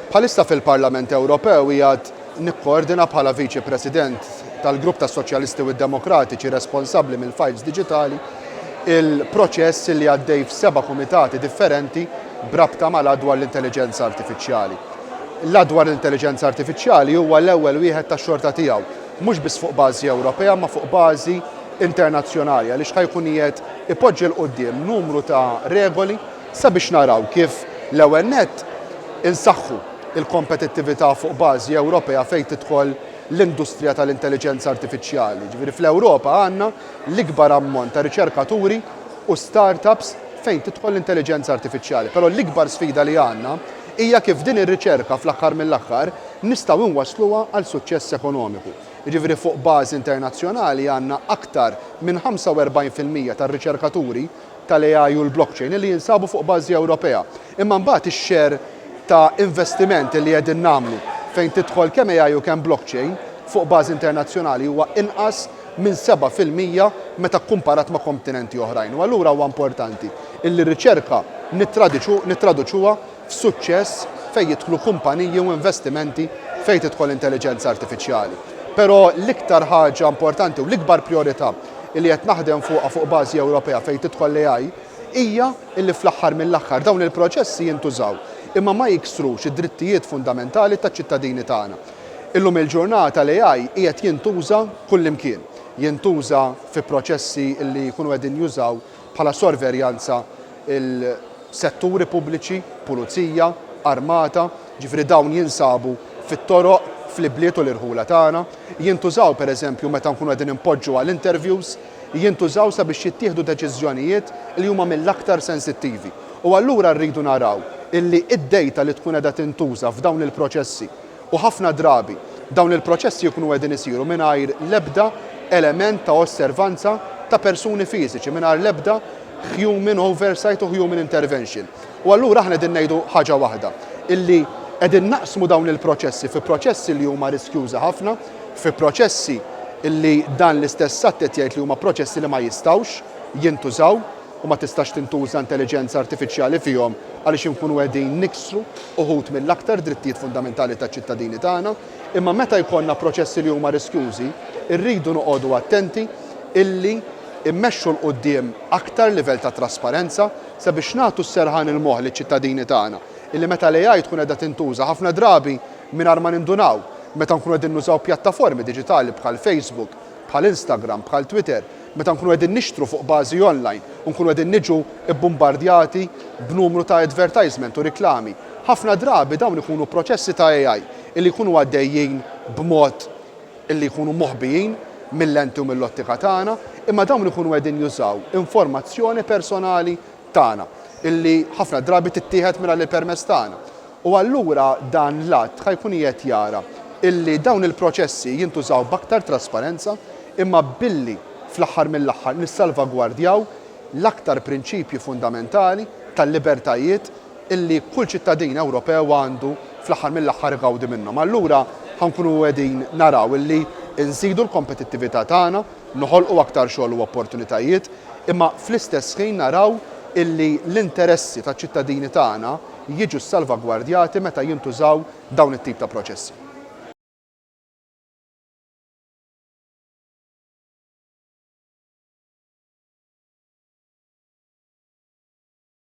Bħalissa fil-Parlament Ewropew qiegħed nikkoordina bħala Viċi President tal-Grupp tas-Soċjalisti u d-Demokratiċi responsabbli mill-fajls diġitali il-proċess li għaddej f'seba' kumitati differenti b'rabta mal-Att dwar l-Intelliġenza Artifiċjali. L-Att dwar l-Intelliġenza Artifiċjali huwa l-ewwel wieħed tax-xorta tiegħu, mhux biss fuq bażi Ewropea imma fuq bażi internazzjonali għaliex ħa jkun qiegħed ipoġġi 'l quddiem numru ta' regoli, Sabiex naraw kif, l-ewwel nett, insaħħu l-kompetittività fuq bażi Ewropea fejn tidħol l-industrija tal-intelliġenza artifiċjali. Jiġifieri fl-Ewropa għandna l-ikbar ammont ta' riċerkaturi u start-ups fejn tidħol l-intelliġenza artifiċjali. Però l-ikbar sfida li għandna hija kif din ir-riċerka fl-aħħar mill-aħħar nistgħu nwassluha għal suċċess ekonomiku. Jiġifieri fuq bażi internazzjonali għandna aktar minn 45 fil-mija tar-riċerkaturi tal-AI u l-blockchain li jinsabu fuq bażi Ewropea. Imma mbagħad ix-share ta' investiment li qegħdin nagħmlu fejn tidħol kemm AI u kemm blockchain fuq bażi internazzjonali huwa inqas minn seba' fil-mija meta kkumparat ma' komtinenti oħrajn. U allura huwa importanti illi r-riċerka nittradiċu, nittraduċuha, f'suċċess fejn jidħlu kumpaniji u investimenti fejn tidħol intelliġenza artifiċjali. Però l-iktar ħaġa importanti u l-ikbar prijorità li qed naħdem fuqha fuq bażi Ewropea fejn tidħol l-AI hija li fl-aħħar mill-aħħar dawn il-proċessi jintużaw imma ma jiksrux id-drittijiet fundamentali taċ-ċittadini tagħna. Illum il-ġurnata l-AI qiegħed jintuża kullimkien. Jintuża fi proċessi li jkunu qegħdin jużaw bħala sorverjanza il-setturi pubbliċi, pulizija, armata, jiġifieri dawn jinsabu fit-toroq, fl-ibliet u l-irħula tagħna, jintużaw pereżempju meta nkunu qegħdin inpoġġu għal interviews, jintużaw sabiex jittieħdu deċiżjonijiet li huma mill-aktar sensittivi. U allura rridu naraw illi d-dejta li tkun qiegħda tintuża f'dawn il-proċessi, U ħafna drabi, dawn il-proċessi jkunu qegħdin isiru mingħajr l-ebda element ta' osservanza ta' persuni fiżiċi, mingħajr l-ebda human oversight u human intervention. U allura aħna qegħdin ngħidu ħaġa waħda, illi qegħdin naqsmu dawn il-proċessi fi proċessi li huma riskjużi ħafna, fi proċessi illi dan l-istess att qed jgħid li huma proċessi li ma jistgħux jintużaw. u ma tistax tintuża intelliġenza artifiċjali fihom għaliex inkunu qegħdin niksru uħud mill-aktar drittijiet fundamentali taċ-ċittadini tagħna. Imma meta jkollna proċessi li huma riskjużi, irridu noqogħdu attenti illi mmexxu 'l quddiem aktar livell ta' trasparenza sabiex nagħtu s-serħan il-moħħ liċ-ċittadini tagħna illi meta l-AI tkun qiegħda tintuża ħafna drabi mingħajr ma nindunaw meta nkunu qegħdin nużaw pjattaformi diġitali bħal Facebook, bħal Instagram, bħal Twitter, meta nkunu qegħdin nixtru fuq bażi online u nkunu qegħdin niġu bbumbardjati b'numru ta' advertisement u riklami, ħafna drabi dawn ikunu proċessi ta' AI illi jkunu għaddejjin b'mod illi jkunu moħbijin mil-lenti u mill-ottika tagħna, imma dawn ikunu qegħdin jużaw informazzjoni personali tagħna illi ħafna drabi tittieħed mingħajr il-permess tagħna. U allura dan l-att ħa jkun qiegħed jara illi dawn il-proċessi jintużaw b'aktar trasparenza imma billi fl-aħħar mill-aħħar nissalvagwardjaw l-aktar prinċipji fundamentali tal-libertajiet illi kull ċittadin Ewropew għandu fl-aħħar mill-aħħar igawdi minnhom. Allura ħa nkunu qegħdin naraw illi nżidu l-kompetittività tagħna, noħolqu aktar xogħol u opportunitajiet, imma fl-istess ħin naraw illi l-interessi taċ-ċittadini tagħna, jiġu ssalvagwardjati meta jintużaw dawn it-tip ta' proċessi.